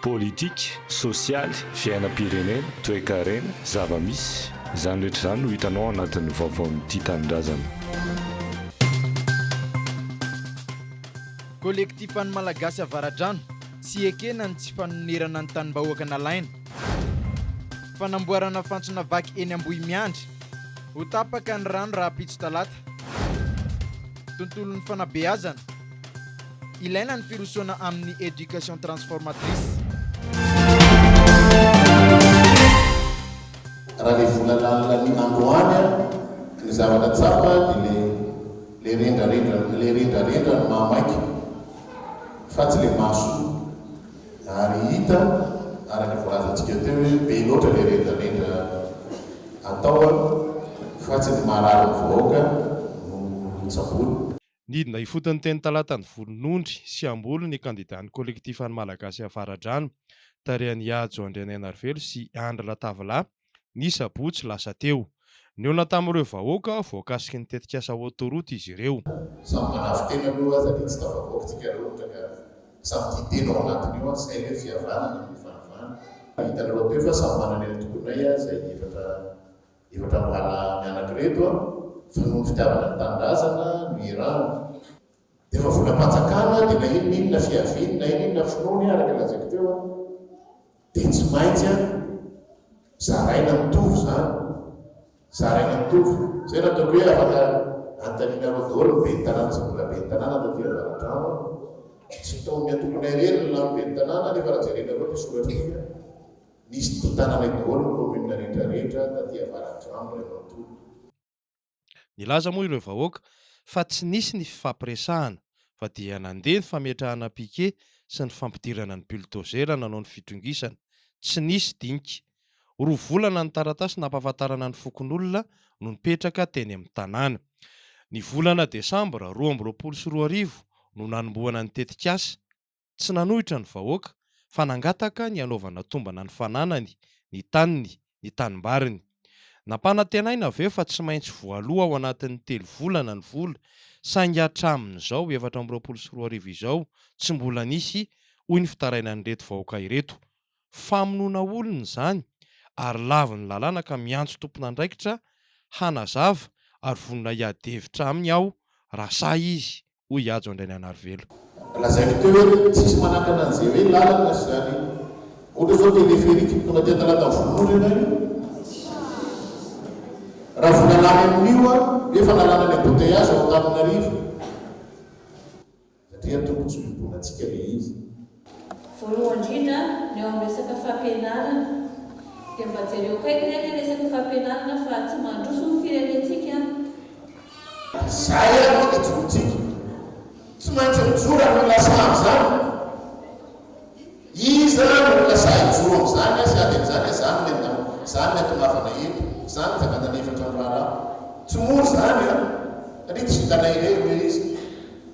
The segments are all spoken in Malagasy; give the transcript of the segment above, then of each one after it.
Politika, sosialy, fiainam-pirenena, toekarena, zava-misy, izany rehetra izany no hitanao ao anatin'ny vaovaon'ny Tia Tanindrazana. Kolektifan'ny Malagasy Avaradrano, tsy ekena ny tsy fanonerana ny tanim-bahoaka nalaina. Fanamboarana fantsona vaky eny Ambohimiandry, ho tapaka ny rano rahampitso talata. Tontolon'ny fanabeazana. Ilaina ny firosoana amin'ny éducation transformatrice. Raha le volana alina androany an, ny zavatra tsapa dia le le rendrarendra le rendrarendra no maha maika fa tsy le maha soa ary hita araka ny voalazantsika teo hoe be loatra le rendrarendra atao an fa tsy ny maharary ny vahoaka no tsaboina. Nidina ifotony teny Talata ny volonondry sy hamboly ny kandidan'ny Kolektifan'ny Malagasy Avaradrano, tarihan'i Ihajo Andrianainarivelo sy Andry Latavilahy, ny sabotsy lasa teo. Nihaona tamin'ireo vahoaka voakasiky ny tetikasa Autoroute izy ireo. Samy manafy tena aloha aza dia tsy tafavoaka tsika rehotra ka samy tia tena ao anatiny ao antsika hoe fihavanana no ifanovana. Hitanareo teo fa samy manana ny antokonay izay efatra. Ireo tranoala mianaka ireto a, fa noho ny fitiavana ny tanindrazana no irany. Dia fa volam-panjakana dia na inona inona fiaviany na inona inona finoany araka ny lazaiko teo a, dia tsy maintsy a zaraina mitovy izany, zaraina mitovy. Izay no ataoko hoe afaka anontanianareo daholo ny ben'ny tanàna sy ny mbola ben'ny tanàna taty Avaradrano a, tsy tao amin'ny antokonay irery ny lany ben'ny tanàna nefa raha jerenareo ny soratriko a, Nisy tontanana eo daholo ny commune rehetra rehetra taty avaradrano ray manontolo. Nilaza moa ireo vahoaka fa tsy nisy ny fifampiresahana fa dia nandeha ny fametrahana piquet sy ny fampidirana ny buldozer nanao ny fitrongisana. Tsy nisy dinika. Roa volana ny taratasy nampahafantarana ny fokonolona no nipetraka teny amin'ny tanàna. Ny volana desambra roa amby roapolo sy roa arivo no nanombohana ny tetikasa. Tsy nanohitra ny vahoaka fa nangataka ny hanaovana tombana ny fananany, ny taniny, ny tanimbariny. Nampanantenaina avy eo fa tsy maintsy voaloa ao anatin'ny telo volana ny vola saingy hatramin'izao efatra amby roapolo sy roa arivo izao tsy mbola nisy hoy ny fitarainan'ireto vahoaka ireto. Famonoana olona izany ary lavin'ny lalàna ka miantso tompon'andraikitra hanazava ary vonona hiady hevitra aminy aho raha sahy izy. hoy i Hajo Andrainianarivelo. Lazaiko teo hoe tsisy manakana an'izay hoe lalana sy izany. Ohatra izao téléphérique tonga aty Antalata vonoina ianao io. Raha vola lany amin'io an, hoe efa lalana ny embouteillage ao Antananarivo. Satria tokony tsy hodoboina antsika ilay izy. Voalohany indrindra, ny eo amin'ny resaka fampianarana, dia mba jereo akaiky re ilay resaka fampianarana fa tsy mandroso ny firenentsika an! Izay ary no hijoroantsika. Tsy maintsy mijoro amin'izany saha izany. Iza no olona sahy hijoro amin'izany sy ady amin'izany? Izany ilay ndao, izany ilay tongavana eto, izany no fiadanana efatra ny raharaha. Tsy mora izany an! Satria tsy vitanay irery ilay izy.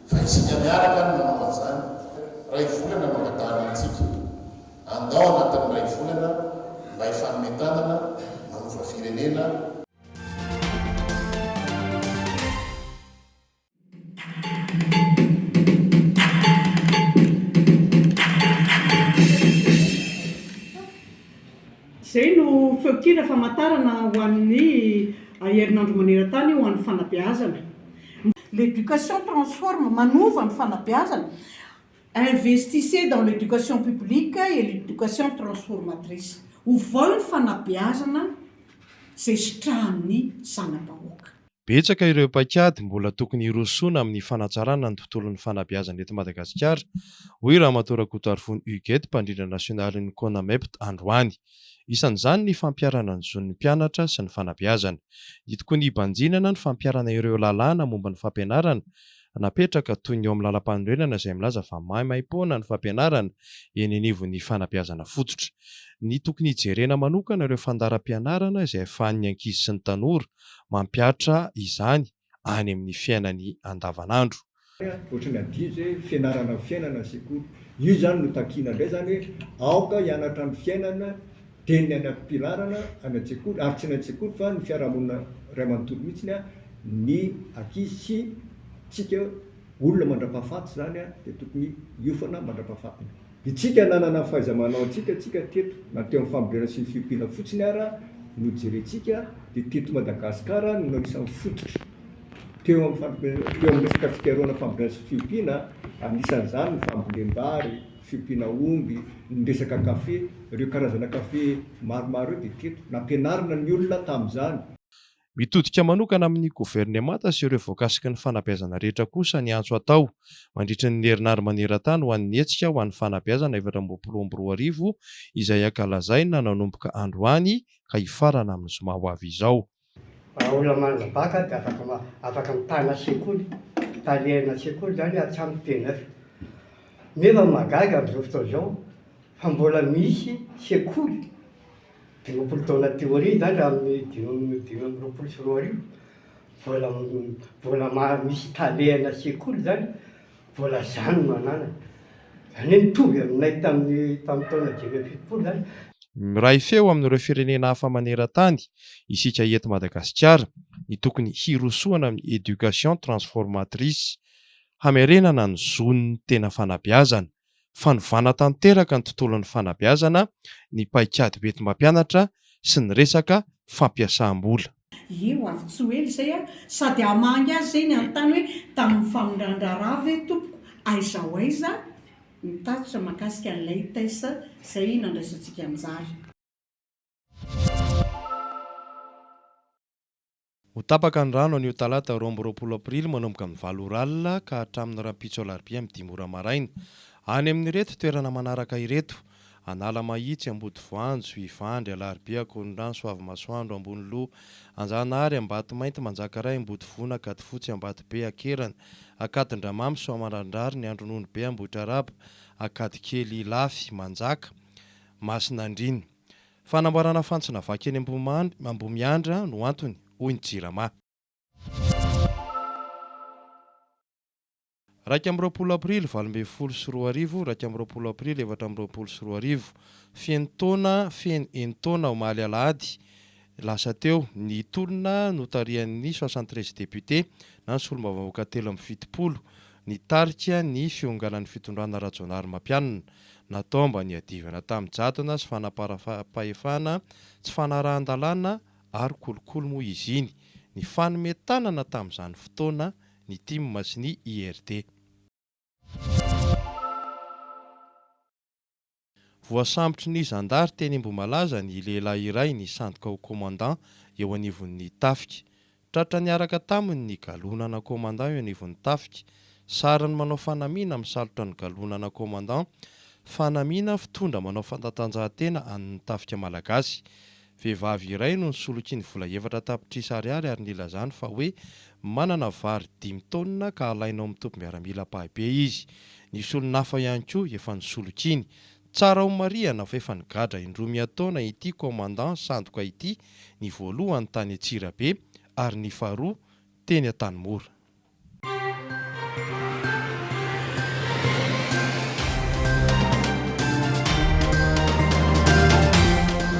Fa isika miaraka no manao an'izany, iray volana no angatahana antsika, andao anatin'ny iray volana mba hifanome tanana manova firenena, Izay no feon-kira famantarana ho an'ny herinandro maneran-tany ho an'ny fanabeazana. L'éducation transforme, manova ny fanabeazana, Investissez dans l'éducation publique et l'éducation transformatrice, ovao ny fanabeazana izay sitrahan'ny zana-bahoaka. Betsaka ireo paikady mbola tokony hirosoana amin'ny fanatsarana ny tontolon'ny fanabeazana eto Madagasikara, hoy Ramatoa Rakotoarivony Huguette, mpandrindra nasionalin'ny Conamept androany. Isan'izany ny fampiharana ny zon'ny mpianatra sy ny fanabeazana. Ny tokony hibanjinana ny fampiharana ireo lalàna momba ny fampianarana napetraka toy ny eo amin'ny lalampanorenana izay milaza fa maimaimpoana ny fampianarana eny anivon'ny fanabeazana fototra. Ny tokony hijerena manokana ireo fandaharam-pianarana izay afahan'ny ankizy sy ny tanora Mampihatra izany any amin'ny fiainany andavanandro. Ohatran'ny adihany izay hoe fianarana ny fiainana ny sekoly. Io izany no takiana indray izany hoe aoka hianatra ny fiainana dia ny any am-pilarana any an-tsekoly ary tsy ny any an-tsekoly fa ny fiarahamonina iray manontolo mihitsy ny ankizy sy tsika olona mandra-pahafaty izany dia tokony hiofana mandra-pahafatiny. Isika nanana ny fahaiza-manaontsika tsika teto na teo amin'ny fambolena sy ny fiompiana fotsiny ara no jerentsika dia teto Madagasikara no anisan'ny fototra teo amin'ny teo amin'ny resaka fikarohana fambolena sy fiompiana anisan'izany ny fambolem-bary, fiompiana omby, ny resaka kafe ireo karazana kafe maromaro ireo dia teto nampianarina ny olona tamin'izany. Mitodika manokana amin'ny governemanta sy ireo voakasiky ny fanabeazana rehetra kosa ny antso atao, mandritra ny herinandro maneran-tany ho an'ny Hetsika ho an'ny Fanabeazana efatra ambin'ny folo amby roa arivo, izay hankalazaina nanomboka androany ka hifarana amin'ny zoma ho avy izao. Raha olona manana bac dia afaka afaka mitana sekoly, talihana sekoly izany hatramin'ny TNEF. Nefa ny mahagaga amin'izao fotoana izao fa mbola misy sekoly. Dimampolo taona teo aoriana izany, raha amin'ny dimy dimy amby roapolo sy roa arivo, vola vola maro misy talehana sekoly izany, vola zany no ananany. Izany hoe mitovy aminay tamin'ny tamin'ny taona dimy amby fitopolo izany. Miray feo amin'ireo firenena hafa maneran-tany isika eto Madagasikara ny tokony hirosoana amin'ny éducation transformatrice, hamerenana ny zon'ny tena fanabeazana. Fanovana tanteraka ny tontolon'ny fanabeazana ny paikady hoenti-mampianatra sy ny resaka fampiasam-bola. Eo avy tsy ho ela izay aho sady hamangy azy izay nanontany hoe tamin'ny famindran-draharaha ve tompoko aiza ho aiza ny tatitra mahakasika ny leites izay nandraisantsika anjara. Ho tapaka ny rano anio talata roa amby roapolo aprily manomboka amin'ny valo ora alina ka hatramin'ny rahampitso alarobia amin'ny dimy ora maraina. Any amin'ireto toerana manaraka ireto, Analamahitsy, Ambodivoanjo, Ivandry, Alarobia, Ankorondrano, Soavimasoandro, Amboniloha, Anjanahary, Ambatomainty, Manjakaray, Ambodivona, Ankadifotsy, Ambatobe, Akerana, Ankadindramamy, Soamandrandrary, ny Andrononibe, Ambohitraraba, Ankadikely, Ilafy, Manjaka, Masina Andriana. Fanamboarana fantsona vaky eny Ambohimiandra no antony, hoy ny Jirama. Iraika amby roapolo aprily valo ambin'ny folo sy roa arivo Iraika amby roapolo aprily efatra amby roapolo sy roa arivo Feno taona, feno enin-taona, omaly alahady, Lasa teo, ny tolona notarihan'ny soixante treize députés na ny solombavambahoaka telo amby fitopolo, nitarika ny fionganan'ny fitondrana Rajaonarimampianina. Natao mba niadivana tamin'ny jadona sy fanaparam-pahefana tsy fanarahan-dalàna ary kolikoly moa izy iny, nifanome tanana tamin'izany fotoana ny Tim sy ny IRD. Voasambotry ny zandary teny Ambohimalaza ny lehilahy iray nisandoka ho commandant eo anivon'ny tafika. Tratra niaraka taminy ny galona ana commandant eo anivon'ny tafika. Sarin'ny manao fanamiana misalotra ny galona ana commandant, fanamiana fitondra manao fanatanjahantena an'ny tafika malagasy. Vehivavy iray no nisoloky ny vola efatra tapitrisa ariary ary nilazany fa hoe manana vary dimy taonina ka halaina ao amin'ny tobim-biaramila ampahibey izy. Nisy olon-hafa ihany koa efa nisolokiany. Tsara homarihana fa efa nigadra indroa miha-taona ity Commandant sandoka ity, ny voalohany tany Antsirabe ary ny faharoa teny Antanimora.